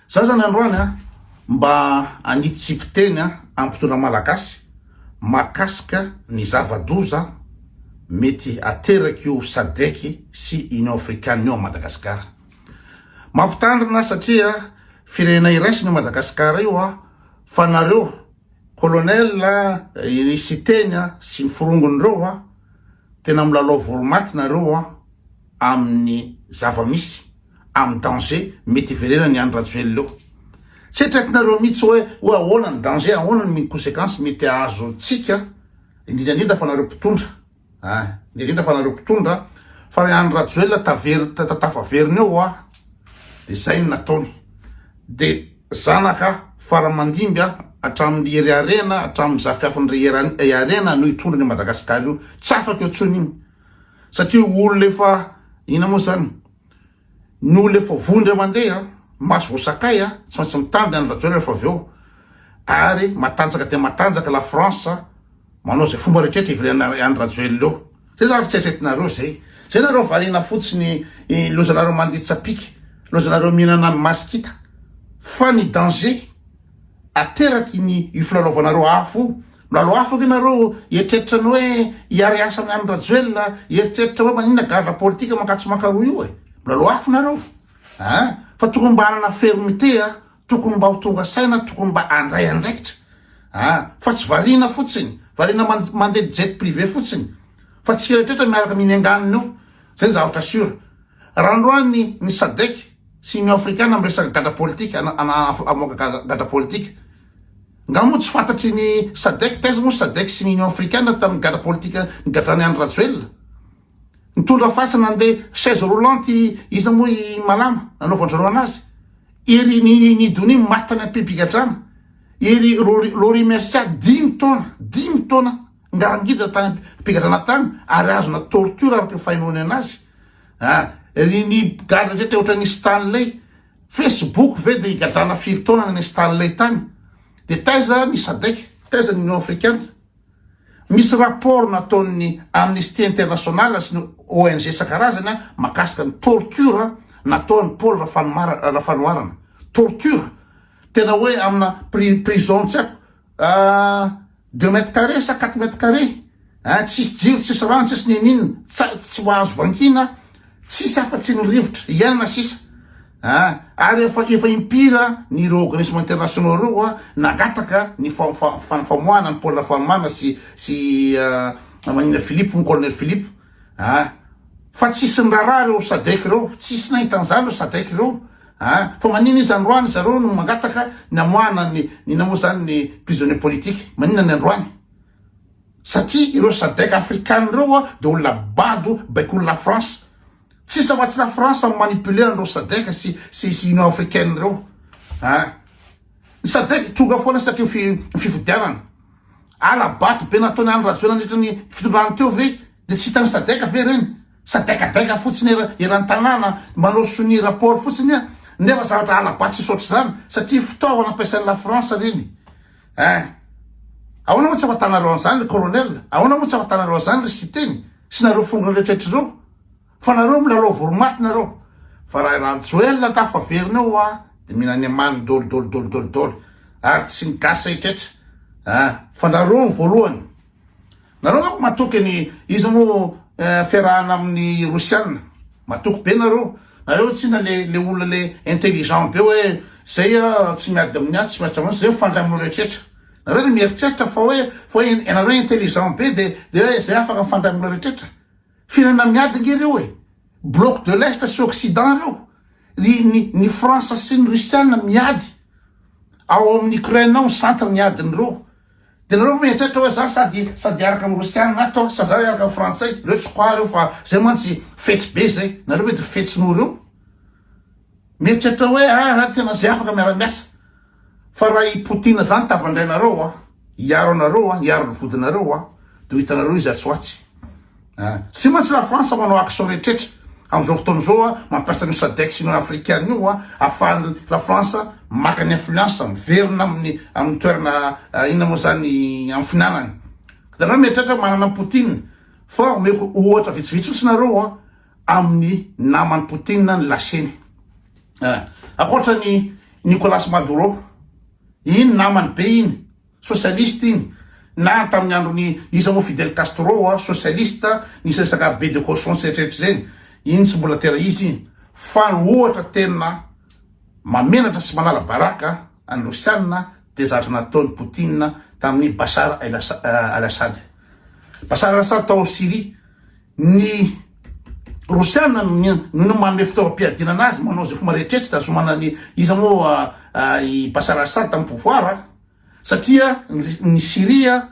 Za zany androany a mba hanitsitsipy teny a ampitona malagasy mahakasika ny zava-doza mety aterak'io sadec sy union africane io am Madagascar. Mampitandrina satria firenena iraisina io Madagascar io a fa nareo colonel a i siteny a sy ny forongony reo a tena milalao voromaty nareo a. amin'ny zava-misy, amin'ny danger mety hiverenan'i Andry Rajoelina eo. Tsy eritreretinareo mihitsy hoe hoe ahoana ny danger, ahoana ny consequence mety hahazo antsika, indrindra indrindra fa nareo mpitondra a, indrindra indrindra fa nareo mpitondra, fa ry Andry Rajoelina taver tafaverina eo hoa dia zay no nataony, dia zanaka faramandimby a, hatramin'ny Hery Harena, hatramin'ny zafiafin-dry Hery Harena no hitondra an'io Madagasikara io, tsy afaka eo intsony iny. satria olona efa inona moa zany ny olona efa vondra mandeha maso vao sakay a tsy maintsy mitandrina any rajoel rehefa avy eo ary matanjaka dia matanjaka la france manao zay fomba rehetrehtra ivelana any rajoel eo zay zany tsy eritretinareo zay zay nareo variana fotsiny lozanareo manditsapika lozanareo mihinana ny masikita fa ny danger ateraky ny io filalaovanareo afo io, milalao afo ve nareo hieritreritra ny hoe hiara hiasa amin any Rajoelina, hieritreritra hoe maninona gadra politika mankatso mankaroa io e, milalao afo nareo a, fa tokony mba hanana fermite a, tokony mba ho tonga saina, tokony mba handray andraikitra a, fa tsy variana fotsiny, variana mandeha jet privé fotsiny, fa tsy eritreretra miaraka mihinenganina eo, zay ny zavatra sur. Raha androany ny Sadc sy Union Afrikana miresaka gadra politika na hamoaka gadra politika. Nga moa tsy fantatry ny Sadc taiza moa Sadc sy ny Union Afrikana tamin'ny gadra politika nigadran'i Andry Rajoelina? Nitondra fasana nandeha chaise roulante iza moa i Malama nanaovan-dry anazy? Ery Nidonie maty tany am-pipigadrana, ery Laurie Mercia dimy taona, dimy taona Ngarangida tany mpigadràna tany ary azona torture araka ny fahenoanena azy ah ry ny gadra rehetra ohatra ny Stanley Facebook ve dia higadrana firy taona ny Stanley tany dia taiza ny Sadec taiza ny Union Africana misy rapport nataon'ny Amnesty International sy ny ONG isan-karazany ah makasika ny torture nataon'ny Paul Rafanomar Rafanoharana torture tena hoe amina pri prison tsy haiko Deux mètres carrés sa quatre mètres carrés a, tsisy jiro, tsisy rano, tsisy ninoninona, tsay tsy ho azo vankina, tsisy afa tsy ny rivotra hiainana sisa a, ary efa efa impiry a n'ireo organismes internationaux ireo a nangataka ny famoahana ny pôle Farmana sy sy maninona Philippe moa colonel Philippe a, fa tsisy niraharaha ireo Sadec ireo, tsisy nahita an'izany ireo Sadec ireo. A, fa manina izy androany zareo no mangataka ny hamoahana ny inona moa zany ny prisonnier politique manina ny androany satria ireo sadec african ireo a de olona bado baikolo la France tsisy afa tsy la France no manipuler an'ireo sadec sy sy sy union africaine ireo a ny sadec tonga foana satria fi fifidianana ala bato be nataony andro rajoelina nandritra ny fitondrany teo ve Dia tsy hitan'ny sadec ve ireny? Sadecadec fotsiny er, eran'ny tanàna manao sonia rapport fotsiny an! Nefa zavatra hala-bato tsisy ohatr'izany satria fitaovana ampiasain'ny la France ireny eh! Ahoana moa tsy afatanareo an'izany ry colonel? Ahoana moa tsy afatanareo an'izany ry Siteny sy nareo fongony rehetra ireo? Fa nareo milalao voromaty nareo! Fa raha i Rajoelina tafaverina eo an! Dia mihina any amaniny dol dol dol dol dol! Ary tsy ny gasy rehetra eh! Fa nareo ny voalohany! Nareo manko matoky ny iza moa fiarahana aminy rosiana matoky be nareo nareo tsina le le olona le intelligent be hoe zay a tsy miady aminy atsy miady aminy atsy zay mifandray aminao rehetraretra nareo de mieritreritra fa hoe fa hoe ianareo intelligent be de de hoe zay afaka mifandray aminao rehetraretra firenena miady nge reo e bloc de l'est sy occident reo ny ny ny france sy ny rusiana miady ao amin'ny ukraine ao ny centre ny adiny reo De nareo ve mieritreritra oe za sady sady hiaraka am rosiana na torche sa za hiaraka am frantsay reo tsy quoi reo fa zay mantsy fetsy be zay nareo ve de fetsy noho reo mieritreritra oe aa tena zay afaka miara miasa fa raha i poutine zany tavandrainareo an hiaro anareo an hiaro ny vodinareo an de ho hitanareo izy atsy ho atsy. Ah. Tsy maintsy la France manao action rehetra amzao fotoana zao a, mampiasa an'io Sadec Union Africaine io a, afahan'ny la France maka ny influence, miverina amin'ny amin'ny toerana inona moa zany amin'ny finanany. Ianareo mieritreritra manana Poutine fa omeko ohatra vitsivitsy fotsiny nareo a, amin'ny naman'i Poutine ny lasiany. Ah. Ankoatra ny Nicolas Maduro, iny namany be iny. Socialiste iny na tamin'ny androny iza moa Fidel Castro oa socialiste nisy resaka be de cochon sy eritreritry zeny iny tsy mbola tera izy iny fa ny ohatra tena mamenatra sy manala baraka an'i rosianina dia zatra nataony Poutine tamin'ny Bashar al Assad Bashar al Assad tao Syrie ny rosianina no manome fitaovam-piadiana anazy manao izay fomba rehetra tsy tazomana ny iza moa i Bashar al Assad tamin'ny pouvoir satria ny Syria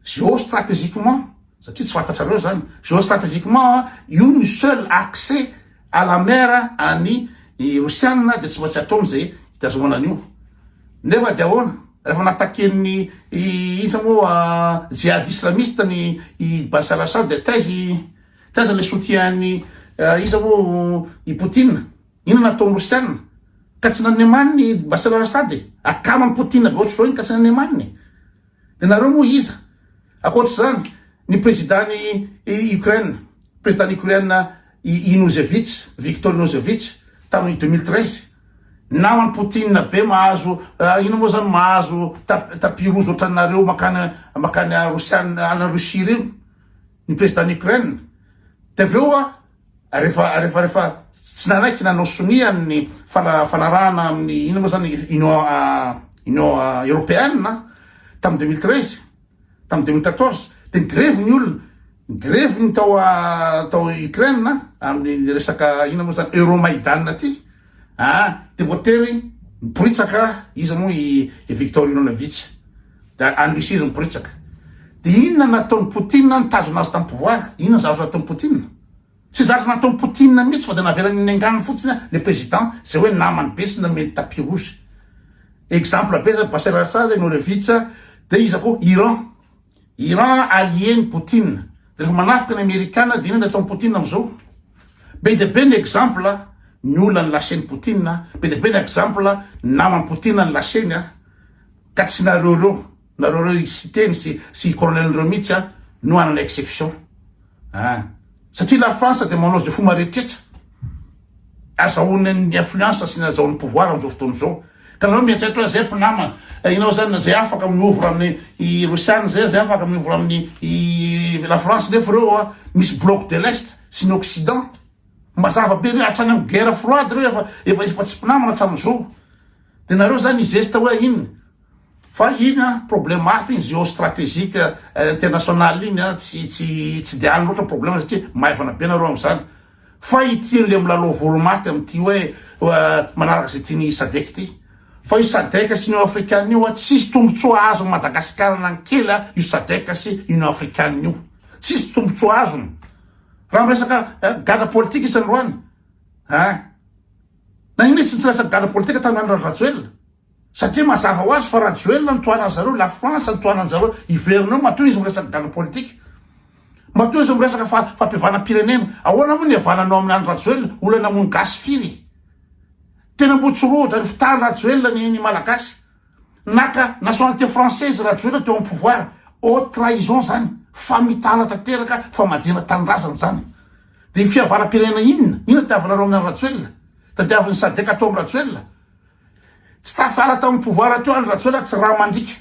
géostrategiquement satria tsy fantatrareo zany géostrategiquement io ny seul accès à la mer any Rosiana dia tsy maintsy atao amin'izay hitazomana an'io nefa dia ahoana rehefa nataken'ny inona moa jihad islamiste ny i Bashar Assad dia taizy taiza le soutien-ny iza moa i Poutine Inona nataony rosiana ka tsy nanome maniny i Bashar al Assad e? Akama amin'i Poutine be ohatr'izao iny ka tsy nanome maniny e? Dia nareo moa iza? Ankoatr'izany, ny prezidan'i Ukraine, prezidan'i Ukraine i Inozevich, Viktor Inozevich, tamin'ny deux mille treize, naman'i Poutine be mahazo, inona moa izany, mahazo ta- tapis rouge ohatranareo mankany mankany rosiana, any Russie ireny, ny prezidan'i Ukraine. Dia avy eo Rehefa rehefa rehefa tsy nanaiky nanao sonia ny fanarahana amin'ny inona moa zany Union Union Européenne tamin'ny 2013 tamin'ny 2014 dia nigrevy ny olona nigrevy ny tao tao Ukraine amin'ny resaka inona moa zany Euromaidan aty ah dia voatery miporitsaka izy moa i Victor Ilonovitsy Dia any Russie izy miporitsaka. Dia inona nataon'i Poutine nitazona azy tamim-pivoahana? Inona ny zavatra nataon'i Poutine? Tsy zavatra nataon'i Poutine mihitsy fa dia navelany niaingàny fotsiny le président, izay hoe namany be sy nomeny tapis rouge. Exemple be zany, Bashar al-Assad zay, Nourevitch, dia iza koa? Iran. Iran allié-n'i Poutine. Dia rehefa manafika ny Amerikana dia inona ny ataon'i Poutine amin'izao? Be dia be ny exemple ny olona nolasen'i Poutine, be dia be ny exemple ny naman'i Poutine nolasainy. Ka tsy nareo reo, nareo reo i Siteny sy sy i Colonel reo mihitsy an no hanana exception an! Satria la France dia manao izay fomba rehetrretra azahoany ny influence sy ny azahoany pouvoir amin'izao fotoana izao ka nareo mieritreritra hoe zay mpinamana ianao zany zay afaka miovra amin'ny i Rosiana zay zay afaka miovra amin'ny i la France nefa reo an misy bloc de l'est sy ny occident mazava be reo hatrany amin'ny guerre froide reo efa efa efa tsy mpinamana hatramin'izao. De nareo zany hizesta hoe inona? Fa iny an, problème hafa iny géostratégique international iny an, tsy tsy tsy de any loatra problème satria maivana be nareo amzany. Fa ity le milalao volo maty amty hoe manaraka ze tiany sadec ty. Fa io sadec sy union africane io an, tsisy tombotsoa azo am Madagascar na ny kely an io sadec sy union africane io. Tsisy tombotsoa azony. Raha miresaka gadra politika izy androany. Ein. Na inona izy tsy nitsiraisan'ny gadra politika tany an'i Rajoelina satria mazava ho azy fa Rajoelina no tohanan'ny zareo, la France no tohanan'ny zareo, hiverina eo matoa izy miresaka gadra politika. Matoa izy miresaka fa fampihavanam-pirenena. Ahoana moa ny havananao amin' any Rajoelina, olana moa ny gasy firy. Tena mbotsorohitra ny fitàn-dRajoelina ny ny Malagasy. Naka nationalité française Rajoelina teo am pouvoir, haute trahison zany, famitahana tanteraka, famadihana tanindrazana zany. Dia fihavanam pirenena inona? Inona tadiavinareo amin Rajoelina? Tadiavin ny sadec atao am Rajoelina? Tsy tafala tam pouvoir teo any Rajoelina tsy ra mandriaka.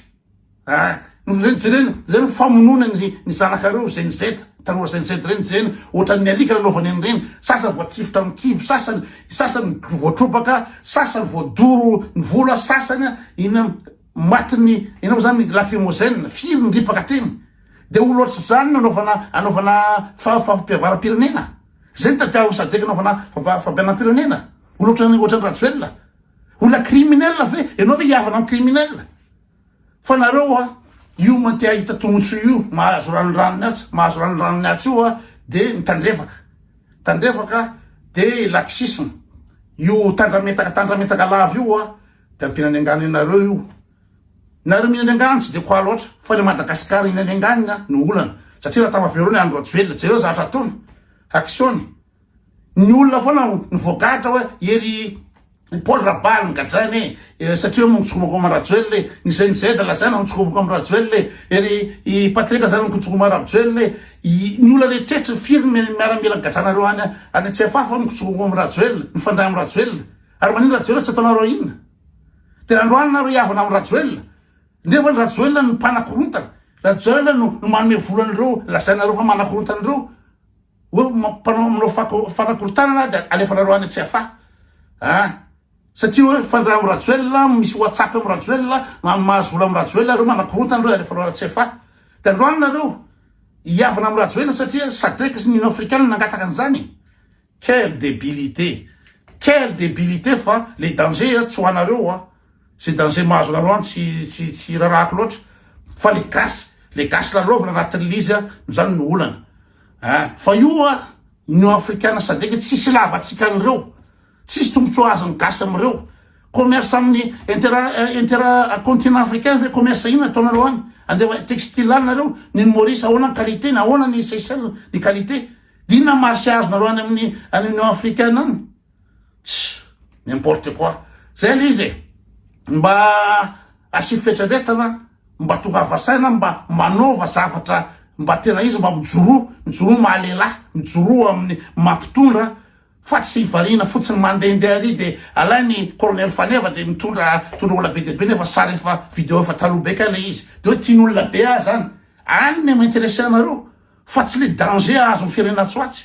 Ah. Reny jerena zay ny famonoana ny ny zanakareo Gen Z tanora Gen Z reny jerena ohatran ny alika lalaovany an reny sasany voatifitra am kibo sasany sasany voatrobaka sasany voadoro ny volo a sasany a inona matin ny enao zany lacrymogène firy ny ripaka teny de olo ohatr zany no anaovana anaovana fa fampiavaram pirenena zay ny tadiaviny sadec anaovana fampa fampianam pirenena olo ohatran ohatran rajoelina olona criminel ve enao ve hihavana am criminel. Fa nareo a io man te ahita tomotsoa io mahazo ranondranony atsy mahazo ranondranony atsy io a de mitandrefaka tandrefaka de laxisme io tandrametaka tandrametaka lava io a de ampiana any angano anareo io nareo mihina any angano tsy de quoi loatra fa le madagascar hina any anganina no olana satria raha tafavero ny andro rajoelina jereo zavatra ataony action-ny Ny olona foana no voagadra hoe ery Paul Rabary no gadraina e, eh, satria hoe mitsokomako amin'i Rajoelina e, ny CNZ lazaina mitsokomako amin'i Rajoelina e, ery i Patrick lazaina mitsokomako amin'i Rajoelina e, i- ny olona rehetrehitra firy ny mi- miaramila gadranareo any any CFA fa mitsokomako amin'i Rajoelina, mifandray amin'i Rajoelina. Ary maninona Rajoelina tsy ataonareo inona? Dia androany nareo hiavana amin'i Rajoelina. Nefa ny Rajoelina no mpanakorontana. Rajoelina no no manome vola an'ireo lazainareo fa manakorontana ireo. Hoe mpanao aminao fanakorontanana aho dia alefanareo any Tsiafahy an! Satria hoe mifandray amin'i Rajoelina, misy WhatsApp amin'i Rajoelina, mahazo vola amin'i Rajoelina ireo, manakorontana ireo dia alefanao any Tsiafahy. Dia andao any nareo hihavana amin'i Rajoelina satria Sadec sy ny Union Africaine nangataka an'izany e! Quelle debilité! Quelle debilité fa le danger tsy ho anareo an! Ze danger mahazo anareo any tsy tsy tsy rarahako loatra fa le gasy, le gasy lalaovina anatin'ilay izy an, no zany no olana. Hein fa io hoa Union Africaine sadc tsisy ilaavantsika an'ireo, tsisy tombotsoa azon'ny gasy amin'ireo, commerce amin'ny intera intera continent africain ve commerce inona ataonareo any, andeha textile any nareo, ny an'i Maurice ahoana ny qualité-ny, ahoana ny Seychelles ny qualité, dia inona marché azonareo any amin'ny any Union Africaine any. Tch! N'importe quoi! Zay le izy e! Mba asio fieritreretana, mba tongava saina, mba manaova zavatra mba tena izy, mba mijoroa, mijoroa ny maha lehilahy, mijoroa amin'ny maha mpitondra fa tsy variana fotsiny mandehandeha ary dia alainy Colonel Faneva dia mitondra mitondra olona be dia be nefa sary efa video efa taloha be kay le izy. Dia hoe tiany olona be ahy zany. Any no mi-interesser anareo fa tsy le danger ahazo ny firenena atsy ho atsy.